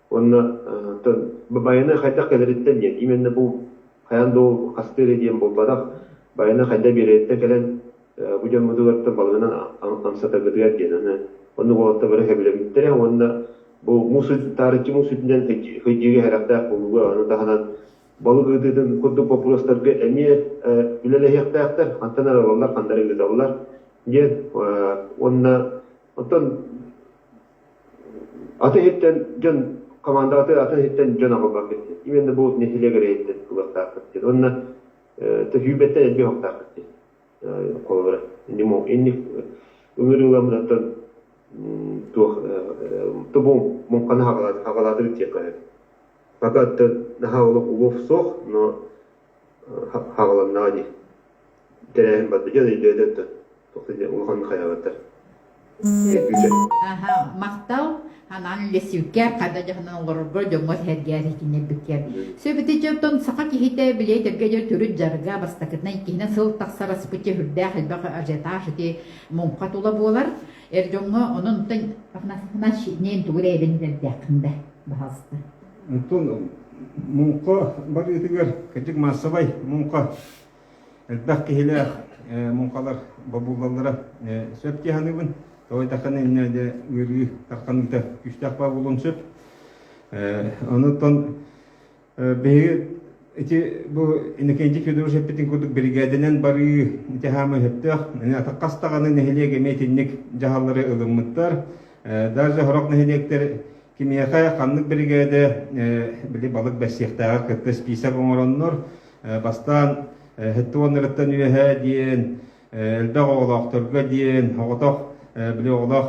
Speaker 4: Уонна оттон байаны хайдах кэлэриттэн диэн именно бу хайаан да ол хастыы эрэ диэн буолбатах байаны хайдах биэрэриттэн кэлэн бу дьоммутугартан балыгынан амсатаргытыгар диэн аны оннук уолаттары сөбүлэҥиттэрэ уонна бу муус таарыччы муус сүтүнэн хыдьыыга сэрэхтээх буолууга аны таһынан балык ыытыытын курдук боппуруостарга эмиэ үлэлэһиэхтээхтэр хантан эрэ ылаллар хантан эрэ ыыталлар диэн уонна оттон Атын иһиттэн дьон хамаандаҕытыгар атын иһиттэн дьон аҕалбакка истин. Именно бу нэһилиэк эрэйиттэн ылыахтааххыт диэн уонна төһүүбэттэн эргэ оһохтааххыт диэн холобура. Нему инник ыҥырыыламмытаттан туох тубу муҥханы хагалаатырыт диэххэ сөп. Пока наһаа олох улуов суох, но Хаҕыланнаҕа дии. Тэрээһин барда. Дьэ, өйдөөдө да, тоҕо диэн улаханнык
Speaker 1: хайаҕаттар. Аһа, махтал. Анаан үллэстибиккэр хата дьаһанан оҥорорго дьоҥҥо сэһэргээр иһитиннэрбиккэр. Сөбүтэ дьонтон саха киһитэ били этэргэ дьон төрүт дьарга бастакытынан иккиһинэн сыл тахсар аспычча сүрдээх элбэх ажиотаж ити муҥха тула буолар. Эр дьоҥҥо онон онтон Афанасьевна шинээн тугу да эбэн этэрдээххин да, баҕаста. Онтон
Speaker 3: муҥха барыытыгар кырдьык маассабай муҥха элбэх киһилээх муҥхалар бобуллаллара сөп дии саныыбын. Тоой тахханы иннэ де ыарыы тахханыыта күүстээх баа буолуон сөп. Онуттан биһиги ити бу Иннокентий Федорович эппитин курдук биригээдэнэн барыы ити хаама сөптөөх. Аны атаххастаҕаны нэһилиэк эмиэ итинник дьаһаллары ылыммыттар. Даже сорох нэһилиэктэр киниэхэ ханнык биригээдэ били балык бэссиэхтээҕэ кытта список оҥороннор бастаан ХТУ-ларыттан үөһэ диэн элбэх оҕолоохторго диэн оҕотох били оҕолоох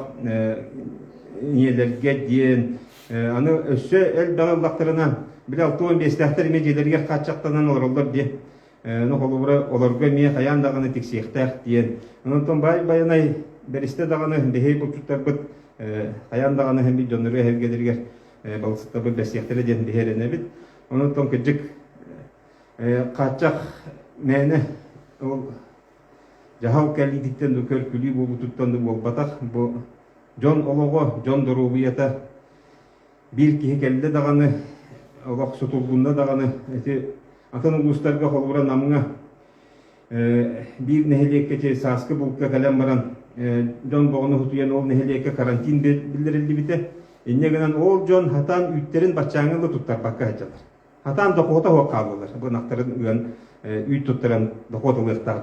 Speaker 3: ийэлэргэ диэн аны өссө элбэҕи ыллахтарына били алты уон биэстээхтэр эмиэ дьиэлэригэр хааччахтанан олороллор диэ Ну, холобура, олорго эмиэ хайаан даҕаны тиксиэхтээх диэн. Онтон баай Байанай бэристэ даҕаны биһиги булчуттарбыт хайаан даҕаны бит дьоннору эһэргэлэригэр балысыктарбыт бэрсиэхтэрэ диэн биһэрэнэбит. Онтон кырдьык хааччах мээнэ ол дьаһал кэлиититтэн да көркүлүү буолбутуттан да буолбатах бу дьон олоҕо, дьон доруобуйата биир киһи кэллэ даҕаны, олох сутулгунна даҕаны, ити атын улуустарга холобура Намҥа биир нэһилиэккэчи сааскы булка кэлэн баран дьон бөҕөнү утуйан ол нэһилиэккэ карантин биллэриллибитэ. Инньэ гынан ол дьон хатаан үүттэрин баччааҥҥа да туттарбакка сылдьаллар. Хатаан дохуота суох хааллылар. Бу ынахтарын ыан, үүт туттаран дохуот ылыахтаах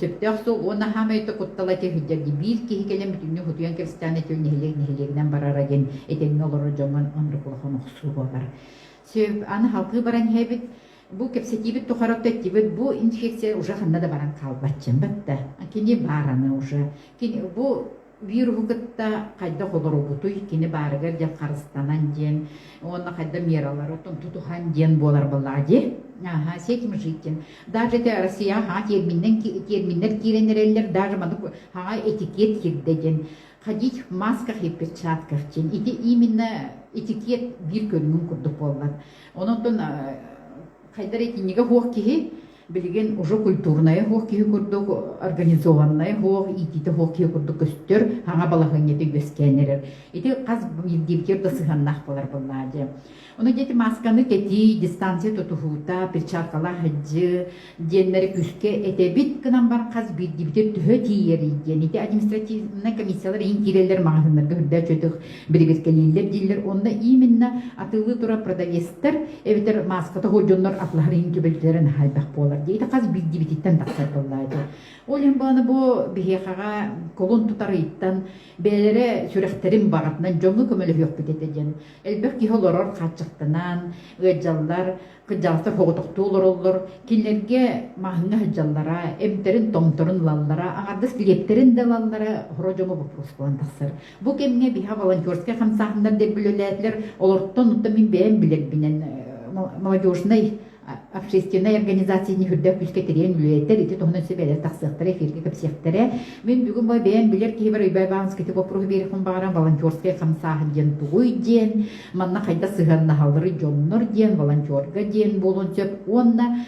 Speaker 1: сөптөөх суол уонна саамай да куттала этэ сылдьар биир киһи кэлэн бүтүннүү утуйан кэристээн этил нэһилиэк нэһилиэгинэн барара диэн этэҥҥэ олорор дьоҥҥун оннук улахан охсуу буолар сөп аны халкыы баран иһэбит бу кэпсэтиибит тухарапта эттибит бу инфекция уже ханна да баран хаалбат чымбыт да кини баараны уже кини бу Вируһу кытта хайдах олоробутуй, кини баарыгар дьэ харыстанан диэн уонна хайда мералары тутуһан диэн буолар буоллаҕа дии. Аха, с этим житим. Даже те Россия ха терминнен терминнер киирэн эрэллэр, даже маннык ха этикет кирдэ диэн ходить в масках и перчатках диэн ити именно этикет биир көрүҥүн курдук буоллар. Онон хайдар этиннигэ хуох киһи Билигин уже культурная суох киһи курдук, организованная суох, иитиитэ суох киһи курдук көстөр, хаҥа балаһыанньата үөскээн эрэр. Ити хас биирдиибитигэр да сыһыаннаах болар быллаа дьэ. Ону дети масканы кэтии, дистанция тутуһуута, перчаткалаах сылдьыы диэннэри күүскэ этэбит гынан бар хас биирдиибитигэр төһө тиийэрий диэн ити административнай комиссиялар иһин киирэллэр маҕаһыыннарга үрдээ чөтөх бирибиркэлииллэр дииллэр онно именно атыылыы турар продавецтар эбэтэр мааската сылдьар дьоннор атлаһар иһин көбөлдөлөрө хайбах буолар диэ ити хас биирдибититтэн тахсар буоллаа ити ол иһин бааны бу биһиэхэҕэ колун тутарыйтан бээлэрэ сүрэхтэрин баҕатынан дьоҥҥо көмөлөһүөхпүт этэ диэн элбэх киһи олорор хааччахтанан ыаддьаллар кыддьаалта соҕотохтуу олороллор кинилэргэ маһыҥҥа сылдьаллара эмтэрин томторун ылаллара аҥардас лиэптэрин да ылаллара хоро дьоҥҥо боппуруос буолан тахсар Бу кэмҥэ биһиэхэ волонтерскай хамсааһыннар диэки үлэлээтилэр. Олортон оттон мин бэйэм билэрбинэн молодежнай общественнай организацияны үрдэ күүскэ тириэн үлэлэтэр ити туһунан сибээлэр тахсыахтара эфиргэ кэпсиэхтэрэ мин бүгүн бу бэйэм билэр киһи бар Ойбай Баланскитик оппуруһу биэриэхпин баҕаран волонтерскай хамсааһын диэн тугуй диэн манна хайдах сыһыаннаһаллары дьоннор диэн волонтерга диэн буолуон сөп уонна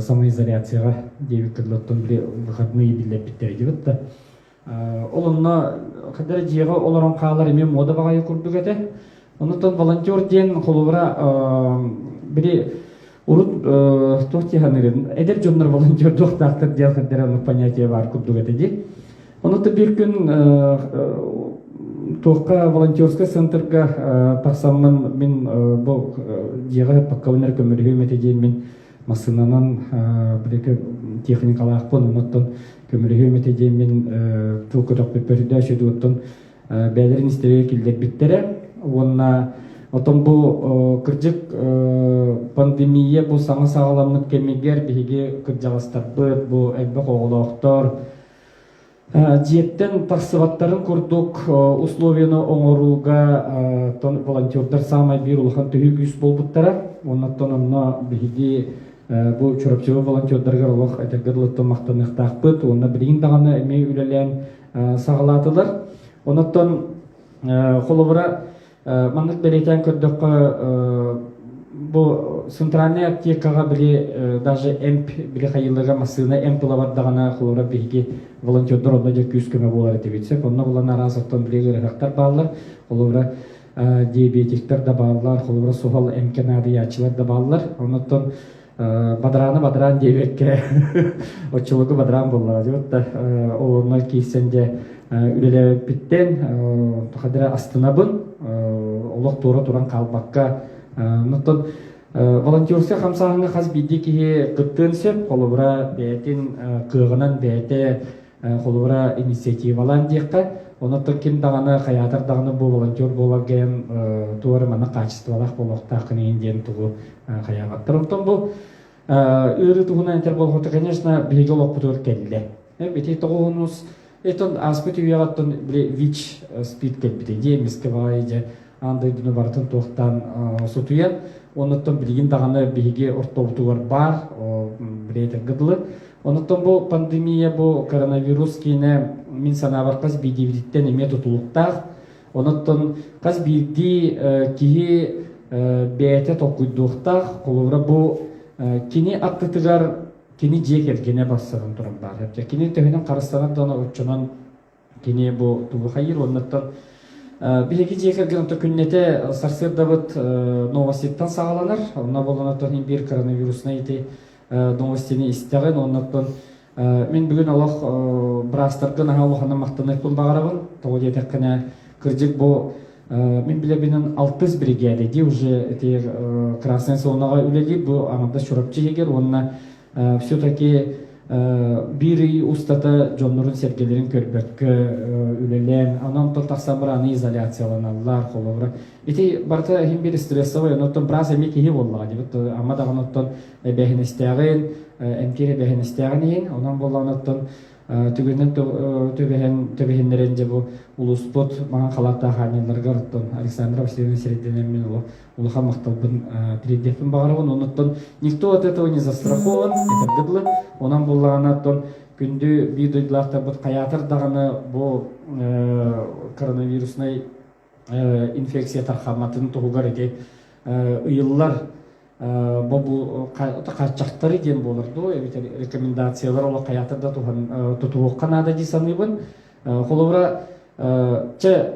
Speaker 5: самоизоляцияҕа диэбит кырлар тылли выходные биллэрбиттэр идибит да ол онно хадара дьиэҕэ олорон хаалар эмиэ муода баҕайы курдук этэ онуттан волонтер диэн холобура били урут туох диэханыгын эдэр дьоннор волонтердуохтаахтар диэн хадара оннук понятие баар курдук этэ ди Ону тэбиир күн туохха волонтерскай центрга тахсаммын мин бу дьиэҕэ паккабыннар көмөлөһүөм этэ диэн мин массыынанан билики техникалаахпын онуттан көмөлөһүөм этэ диэн мин тыл көтөхпүппөрдө сөдуоттун бээлэрин истэригэр киллэрбиттэрэ уонна отон бу кырдьык пандемия бу саҥа саҕаламмыт кэмигэр биһиги кырдьаҕастарбыт бу элбэх оҕолоохтор Дьиэттэн тахсыбаттарын курдук условиены оҥорууга волонтердар саамай биир улахан төһүү күүс буолбуттара. Оннуттан онно биһиги бу Чурапчылы волонтердарыгар олох этэргэ дылыттан махтаныахтаахпыт. Уонна билигин даҕаны эмиэ үлэлээн саҕалаатылар. Оннуттан холобура Маннык бэлиэтээн көрдөххө, бу центральнай аптекаҕа били даже эмп били хайыыларга массыына эмп ылабар даҕаны холобура биһиги волонтердар онно дьэ күүс-көмө буолар этибит сөп онно булан араас оттон били ыарыһахтар бааллар холобура диабетиктар да бааллар холобура суһал эмкэ наадыйааччылар да бааллар оннуттан бадарааны бадараан диэбэккэ оччолорго бадараан буоллаҕа диот да олоннон киирсэн дьэ үлэлээбиппиттэн тахадыра астынабын олох туора туран хаалбакка оттон волонтерскай хамсааһыҥҥа хас биирдии киһи кыттыан сөп холобура бэйэтин кыаҕынан бэйэтэ холобура инициативалаан диэххэ онуттан ким даҕаны хайаатар даҕаны бу волонтер буолар гайан туора манна хаачыстыбалаах буолуохтааххын иһин диэн тугу хайаабаттар оттон бу ыарыы туһунан этэр болҕото конечно биһиги олохпутугар кэллэ эбити тоҕуһунус итон ааспыт үйэҕэ оттон били вич спид кэлбитэ дии эмискэ баҕайы дьэ аан дойдуну барытын туохтаан сутуйан оннуттан билигин даҕаны биһиги ортобутугар баар билетэргэ дылы оннуттан бу пандемия бу коронавирус киинэ мин санаабар хас биирдиибититтэн эмиэ тутулуктаах онуттан хас биирдии киһи бэйэтэ толкуйдуохтаах холобура бу кини аттытыгар кини дьиэ кэргэнэ барсарын туран баар кини төһөнөн харыстанар да оччонон Кини бу тугухайыр уоннаттар биһиги дьиэ кэргэн онто күннэтэ сарсыардабыт новоститтан саҕаланар онно болонаттан ин биир коронавируснай ити новостини истэҕин уоннаттан мин бүгүн олох браастарга наһаа улаханна махтаныахпын баҕарабын тоҕо диэтэххинэ кырдьык бу мин билэбинин алтыс бригада ди уже тиер красный зонаҕа үлэлиир бу аҥардас чурапчы иһигэр уонна все-таки биир ый устата дьоннорун-сэргэлэрин көрбөккө үлэлээн, анан тыл тахсан барааны изоляцияланаллар, холобура. Ити барыта иһин биир стрессовый, оноттон брас эмиэ киһи боллаҕа дебит, ама даҕан оттон эбэһинэстээҕин, эмкир эбэһинэстээҕин иһин, онон боллаҕын оттон түгэнин түбэһиннэрэн дьэ бу улууспут маҥан халааттаах аанньаларыгар Александр Васильевич сирэйдэнэммин улахан махталбын тириэрдиэхпин баҕарабын онуттан никто от этого не застрахован этэргэ дылы онон буоллаҕына оттон күндү биир дойдулаахтарбыт хайаатар даҕаны бу коронавируснай инфекция тархамматын туһугар ити ыйыллар бобу хаччахтары диэн буолар дуу эбэтэр рекомендациялар олох хайаатар да туһан тутуһуохха наада дии саныыбын холобура чэ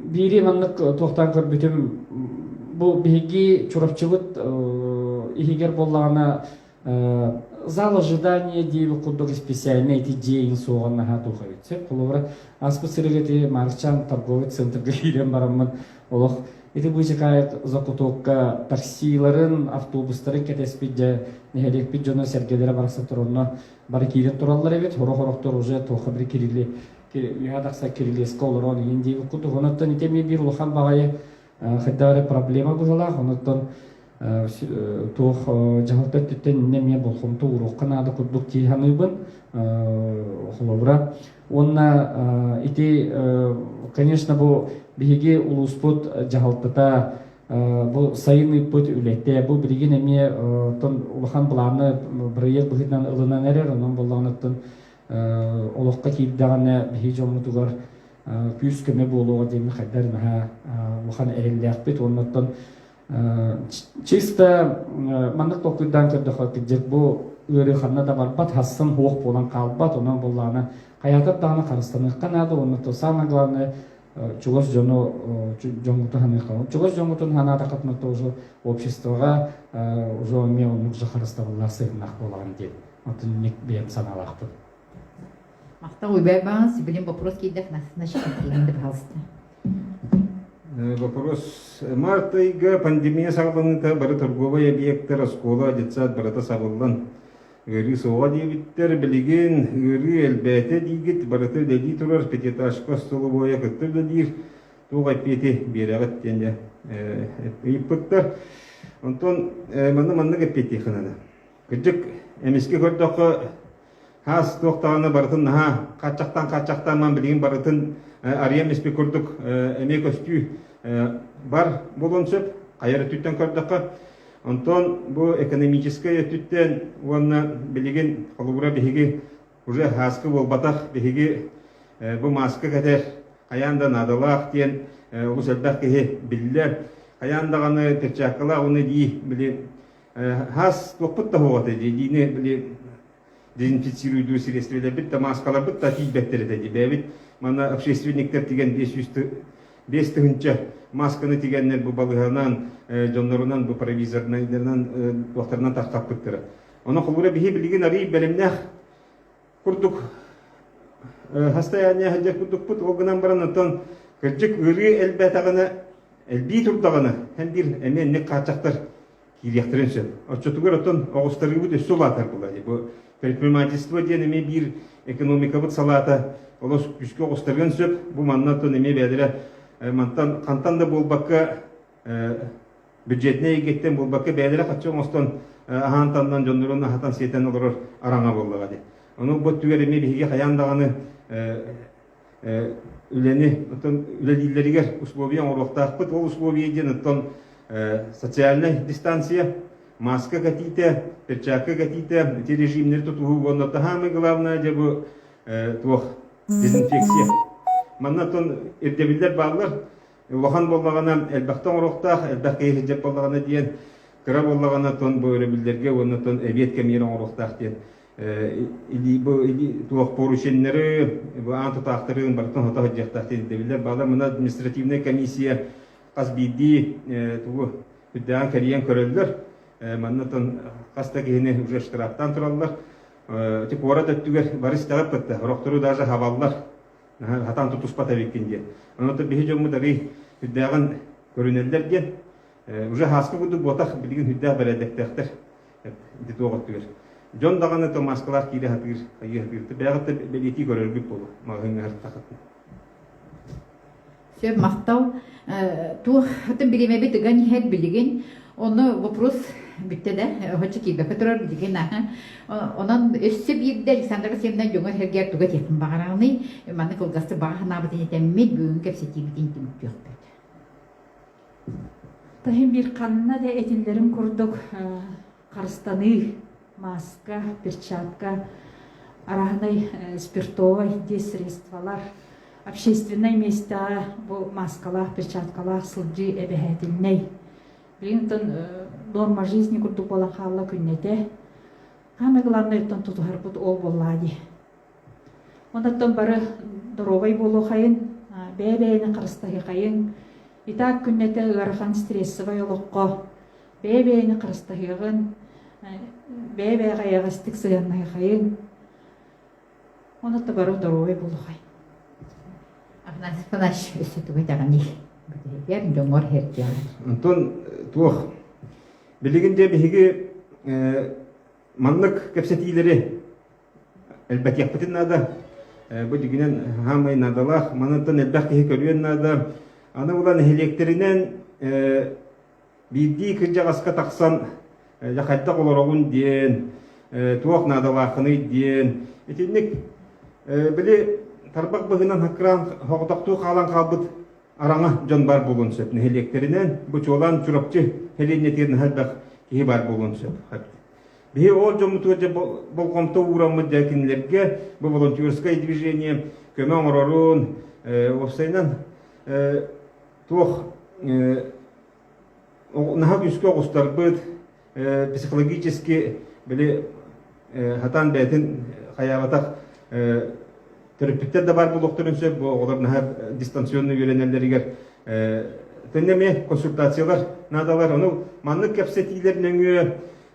Speaker 5: биири маннык туохтан көрбүтүм бу биһиги чурапчыбыт иһигэр буоллаҕына зал ожидания диир курдук специальный эти день суоҕан наһаа туха битсе холобура аспыт сырыгыты марчан торговый центрга киирэн бараммын олох ити быычакаайык закутокка таксиларын автобустарын кэтэспит дьэ нэһилиэкпит дьоно сэргэлэрэ барахсан туронно бары киирэн тураллар эбит хорох орохтор уже тоха бир кирили үһа тахса кирилиэска олорон иһин диэбит куту онуттан итэмие бир улахан баҕайы хайдах эрэ проблема быһылаах онуттан туох дьаһалта өттүттэн иннэ эмиэ болҕомто ууруохха наада курдук дии саныыбын холобура уонна ити конечно бу биһиги улууспут дьаһалтата бу сайын ыыппыт үлэтэ бу билигин эмиэ улахан былааны бырайыак быһыытынан ылынан эрэр онон боллоҕуттан олоххо киирдэҕинэ биһиги дьоммутугар күүс-көмө буолуоҕа диэн хайдах наһаа улахан эрэллээхпит уонна чисто маннык толкуйдаан көрдөхө итинчик бу ыарыы ханна да барбат хассын уох буолан хаалбат онон буоллаҕына хайаатар даҕаны харыстаныахха наада уонна то самое главное чугас дьону дьоҥҥутун саныахха чугас дьоҥҥутун санаатаххытына тоже обществоҕа уже эмиэ оннук дьахарыстабыллаах сыгыннах буолаҕын диэн отынник бэйэм санаалаахпын
Speaker 1: махтал уйбай баан сибилин вопрос киирдэхнэ значит да пожалуйста Вопрос.
Speaker 3: Март ыйга пандемия саҕаланыыта бары торговай объектар, оскуола, детсад барыта сабыллан, Ыарыы суоҕа диэбиттэр, билигин ыарыы элбээтэ диигит, барыта үлэлии турар, пятиэтажка столовойа кытта үлэлиир, туох эппиэти биэрэҕит диэн дьэ ыйыппыттар. Онтон манна маннык эппиэттиэххинэ кырдьык эмискэ көрдөххө хаас туох даҕаны барытын наһаа хааччахтан хааччахтан ман билигин барытын арыйан испит курдук эмиэ көстүү бар буолуон сөп. Хайа өттүттэн көрдөххө Онтон бу экономическай өттүттэн уонна билигин холобура биһиги уже хааска буолбатах биһиги бу мааска кэтэр хайаан да наадалаах диэн олус элбэх киһи биллэр. Хайаан даҕаны перчаткалаах уны дии били хаас туохпут таһуоҕата диини били дезинфицируйдуу средстволарбыт, дамааскаларбыт да тиийбэттэр этэ дии. Бэйэбит манна общественниктар тигэн биэс сүүс биэс тыһыынча масканы тигэннэр бу балыһанан, дьоннорунан, бу провизорынан, туохтарынан тахтаппыттара. Ону холура биһи билигин арыый бэлэмнээх курдук хастаяние сылдьар курдукпут. Ол гынан баран оттон кырдьык ырыы элбээтэҕинэ, элбии турдаҕына, һэн биир эмиэ ник хааччахтар киириэхтэрин сөп. Отчетугар оттон оҕустарыыбыт өссө улаатарбыла. Бу предпринимательство диэн эмиэ биир экономикабыт салаата олус күүскэ оҕустарыан сөп. Бу манна оттон эмиэ бэйэлэрэ мантан хантан да буолбакка бюджетнай эйгэттэн буолбакка бэйэлэрэ хаччы оҥостон аһаан-таннан дьоннорун аһатан-сиэтэн олорор араҥа буоллаҕа дии. Ону бу өттүгэр эмиэ биһиги хайаан даҕаны үлэни оттон үлэлииллэригэр условия оҥоруохтаахпыт ол условия диэн оттон социальнай дистанция маска катита перчатка катита эти режимнэри тутуһуу уонна таһаамай главное дьэ бу туох дезинфекция манна оттон ирдэбиллэр бааллар улахан буоллаҕына элбэхтэ оҥоруохтаах элбэх киһи сыдьат буоллаҕына диэн кыра буоллаҕына оттон бу өрөбүллэргэ уонна оттон эбиэт кэмиэрэ оҥоруохтаах диэн туохпур үчүннэри бу аан тутаахтарын барытын хото сылдьыахтаахтын ирдэбиллэр баалар мына административнай комиссия хас биирдии тугу үрдээн кэрийэн көрөллөр маннатан хас да киһини уже штрафтаан тураллар ити куорат өттүгэр бары истэҕит кытта орохтору даже хабаллар хатан тутуспат эбиккин диэн онотон биһи дьоммут арый үрдээҕин көрүнэллэр диэн уже хааска курдук буотах билигин үрдээх бэрээдэктээхтэр ити туох өттүгэр дьон даҕаны то маскалаах киирэ сатыыр хайыы сатыыр бэйэҕит да бэлиэтии көрөргүт буолуо маҕаһыыҥҥа сыртахытын
Speaker 1: Сөп махтал. Туох бириэмэбит ыган иһэр билигин Оны вопрос bitті de hoca kibe götürür bilgin Onun өссө биирдэ Александр Васильевна дьоҥо сэргээр туга тиэтин баҕараны манны кылгасты баҕа санаабытын этэммит бүгүн кэпсэтиибитин түмүктүөхпүт Таһым
Speaker 2: биир ханна да этиллэрин курдук харыстаныы, маска, перчатка, араһынай спиртовай диэс средстволар, общественнай миэстэҕэ бу маскалаах, перчаткалаах сылдьыы эбэһээтиннэй. Билигин оттон норма жизни курдук буолан хаалла күннэтэ. Хаамай главнайыттан тутуһарбыт ол буоллаа дии. Онтон бары доруобай буолуохайын, бэйэ-бэйэни харыстаһыахайын. Итак күннэтэ ыарахан стрессовай олоххо бэйэ-бэйэни харыстаһыаҕын, бэйэ-бэйэҕэ эйэҕэстик сыһыаннаһыахайын.
Speaker 1: Онута бары
Speaker 2: доруобай буолуохай.
Speaker 1: Афанасий
Speaker 2: Афанасьевич
Speaker 1: өссө тугу этэҕиний? Бүтүһүгэр дьоҥҥор хердиэҕэр. Антон
Speaker 3: туох? Билигин дьэ биһиги маннык кэпсэтиилэри элбэтиэхпитин наада. Бу дигинэн хаамай наадалаах. Манантан элбэх киһи көрүөн наада. Аны була нэһилиэктэринэн биирдии кырдьаҕаска тахсан хайдах олороҕун диэн, туох наадалааххыный диэн. Итинник били тарбах быһынан хакыраан хоҕотохтуу хаалан хаалбыт араҥа дьон бар буолуон сөп нэһилиэктэринэн. Бу чуолаан Чурапчы сэлиэнньэтигэр наһаа элбэх киһи бар буолуон сөп. Биһи ол дьоммутугар дьэ болҕомто уураммыт дьэ кинилэргэ бу волонтерское движение көмө оҥорорун уопсайынан туох наһаа күүскэ оҕустарбыт психологически били хатаан бэйэтин хайаабатах Төрөппүттэр да баар буолуохтарын сөп, оҕолор наһаа дистанционно үөрэнэллэригэр. Тэннэ эмиэ консультациялар наадалар. Ону маннык кэпсэтиилэр нөҥүө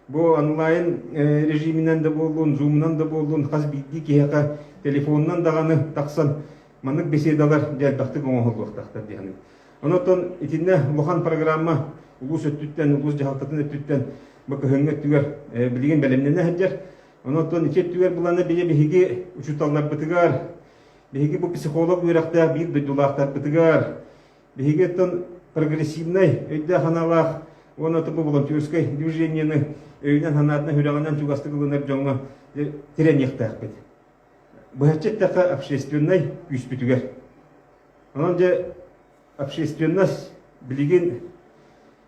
Speaker 3: бу онлайн режиминэн да буоллун, зумунан да буоллун, хас биирдии киһиэхэ телефонунан даҕаны тахсан маннык беседалар дьэ элбэхтик оҥоһуллуохтаахтар дии саныыбын. Онон итиннэ улахан программа улуус өттүттэн, улуус дьаһалтатын өттүттэн бу кыһыҥҥы өттүгэр билигин бэлэмнэнэ сылдьар. Онон ити өттүгэр быланы били биһиги учууталларбытыгар, биһиги бу психолог үөрэхтээх биир дойдулаахтарбытыгар, биһиги оттон прогрессивнай өйдөөх-санаалаах уонна бу волонтерскай движениены өйүнэн-санаатынан, сүрэҕинэн чугастык ылынар дьоҥҥо тирэниэхтээхпит. Быһаччы эттэххэ общественнай күүспүтүгэр. Онон дьэ общественность билигин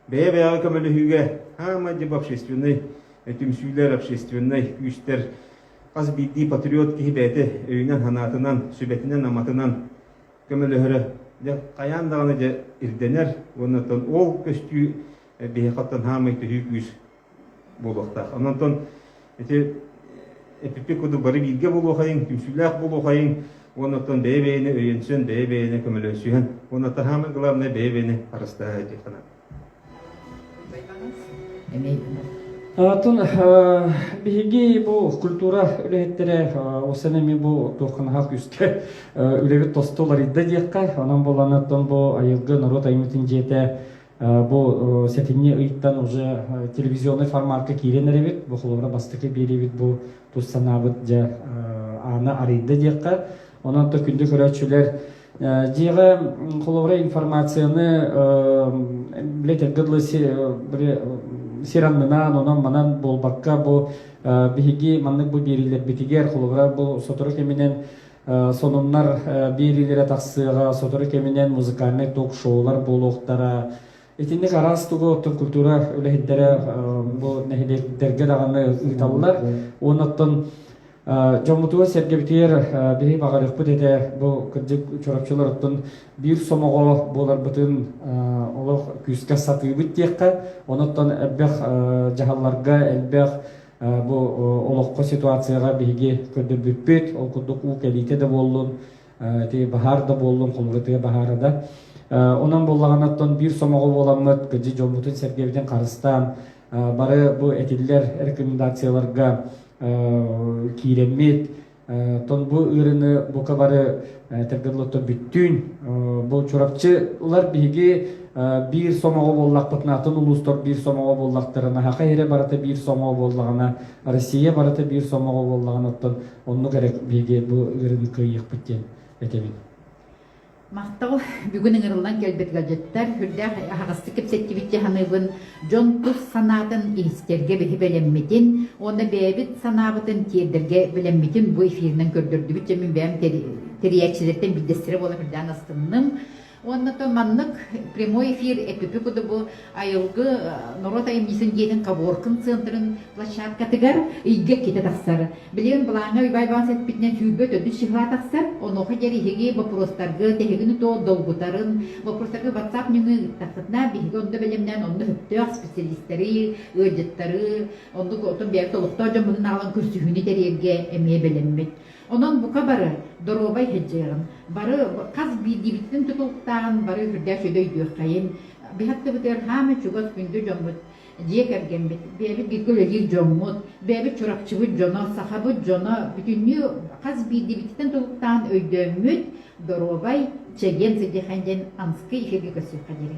Speaker 3: бэйэ-бэйэҕэ көмөлөһүүгэ хаамайдьып общественнай түмсүүлэр, общественнай күүстэр хас биирдии патриот киһи бэйэтэ өйүнэн-санаатынан, сүбэтинэн-аматынан көмөлөһөрө хайаан даҕаны дьэ ирдэнэр уонна ол көстүү биһиэхаттан хаамай төһүү күүс буолуохтаах. Онон ити эпиппик кудук бары бииргэ буолуохайын, түмсүүлээх буолуохайын, уоннаттан бэйэ-бэйэни өйөнсөн, бэйэ-бэйэни көмөлөсүһэн, уонна самое главное бэйэ-бэйэни харыстааһы этии ханан.
Speaker 5: Атын биһиги бу культура үлэһиттэрэ осаны ми бу туохханахах үске үлэбит тосто ларыйда диэххэ, онон боланаттан бу айылгы народ аймытын дьиэтэ Бу сэтинньи ыйтан уже телевизионный форматка киирэн эрэбит. Бу холобура бастакы биэриэбит бу тус санаабыт дьэ ааны арыйда диэххэ. Онон то күндү көрөөччүлэр дьиэҕэ холобура информацияны билетиргэ дылы сираннынан онон манан буолбакка бу биһиги маннык бу биэриилэрбитигэр холобура бу сотору кэминэн сонуннар биэриилэрэ тахсыаҕа, сотору кэминэн музыкальнай ток-шоулар буолуохтара. Итинник араас тугу культура үлэһиттэрэ бу нэһилиэктэргэ даҕаны ыыталлар. Уонна оттон дьоммутугар сэргэбитигэр биһиги баҕарыахпыт этэ бу кырдьык чорапчылар оттон биир сомоҕо буоларбытын олох күүскэ сатыыбыт диэххэ онон оттон элбэх дьаһалларга элбэх Бу олоххо ситуацияҕа биһиги көрдөрбүппүт. Ол курдук уу кэлиитэ да буоллун, ити баһаар да буоллун, хомурутуйа баһаара да. Онон буоллаҕына оттон биир сомоҕо буоламмыт, кырдьыы дьоммутун сэргэбитин харыстаан, бары бу этиллэр рекомендацияларга киирэммит, Торбу ыарыыны бука бары тергерлоттон бүттүүн бу Чурапчы ылар биһиги биир сомоҕо буоллахпытынаатын улуустар биир сомоҕо буоллахтарына Саха иһирэ барыта биир сомоҕо буоллаҕына Россия барыта биир сомоҕо буоллаҕына оттон оннук эрэ биһиги бу ыарыыны кыайыахпыт диэн этэбин
Speaker 1: Махтал бүгүн ыҥырыллан кэлбит гаджеттар үрдээх аһаҕастык кэпсэттибит дии саныыбын дьон тус санаатын иһистэргэ биһи бэлэммитин уонна бэйэбит санаабытын тиэрдэргэ бэлэммитин бу эфиринэн көрдөрдүбүт дьэ мин бэйэм тэрийээччилэриттэн биирдэстэрэ буолан үрдээн астынным Уонна то маннык прямой эфир эппипи кудубу айылгы норуот айымньысын дьиэтин каборкын центрын площадкатыгар ыйга китэ тахсар. Билигин былааҥҥа Уйбаайбаҕа сэппитинэн сүүрбэ төрдүс чыһылаа тахсар, онуоха диэри боппуруостарга тэһигини тоо долгутарын, боппуруостарга WhatsApp нөҥүө ыыттахтына, биһиги онно бэлэмнээн онно сөптөөх специалистары, ыалдьыттары, онно оттон бэйэбит олохтоох дьоммутун аҕалан көрсүһүүнү тэрийэргэ эмиэ бэлэммит. Онон бука бары доруобай иһирдьиэҕин, бары хас биирдиибиттэн тутулуктааҕын бары үрдээх сүдү өйдүөххэйин, быһа аттыбытыгар хаама чугас күндү дьоммут, дьиэ кэргэммит, бэйэбит бииргэ үлэлиир дьоммут, бэйэбит Чурапчыбыт дьоно, сахабыт дьоно бүтүннүү хас биирдиибититтэн тутулуктааҕын өйдөөммүт, доруобай, чэгиэн сидиэхэн диэн Анскый эфиргэ көрсүөххэ диэри.